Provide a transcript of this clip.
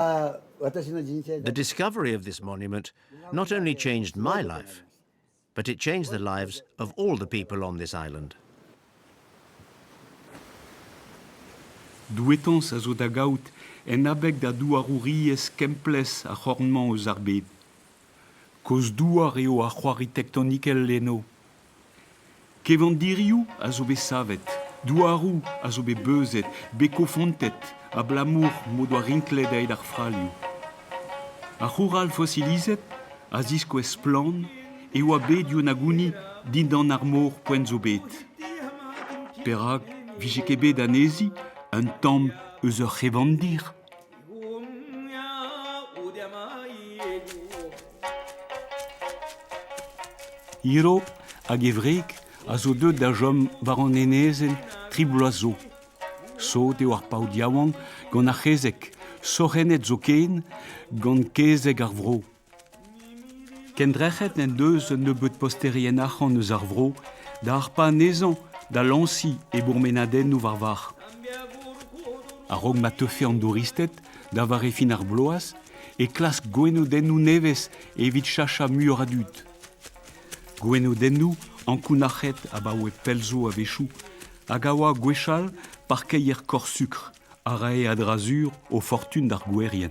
The discovery of this monument not only changed my life, but it changed the lives of all the people on this island. Douetañs a zo da gaout en abeg da douarouriezh kemplezh ar c'horn-mañ eus ar bed. Kozh-douar eo ar c'hoari tektonikel eno, Kevandirioù a zo bet savet, douaroù a zo bet beuzet, bet kofantet abalamour m'o doa rinklet aet ar fralioù. Ar c'houral fosilizet a ziskouez splann e oa bet Yunaguni dindan ar mor poent zo bet. Perak 'vije ket bet anezhi un tamm eus ur c'hevandir ? Gumia udamaïego Hiro hag e wreg a zo deuet da chom war an enezenn tri bloaz zo. Sot eo ar paotr yaouank gant ar c'hezeg, sorc'hennet zoken gant kezeg ar vro. Kendrec'het n'en deus un nebeud posterien arc'hant eus ar vro da harpañ anezhañ da lañsiñ e bourmenadennoù war-varc'h. A-raok ma teufe an douristed da vare fin ar bloaz e klask gwenodennoù nevez evit cheñchañ muioc'h a dud. Gwenodennoù ankounac'het abaoe pell zo a-wechoù hag a oa gwechall parkeier korz-sukr. a rae a-dra-sur o fortun d'ar gouerien.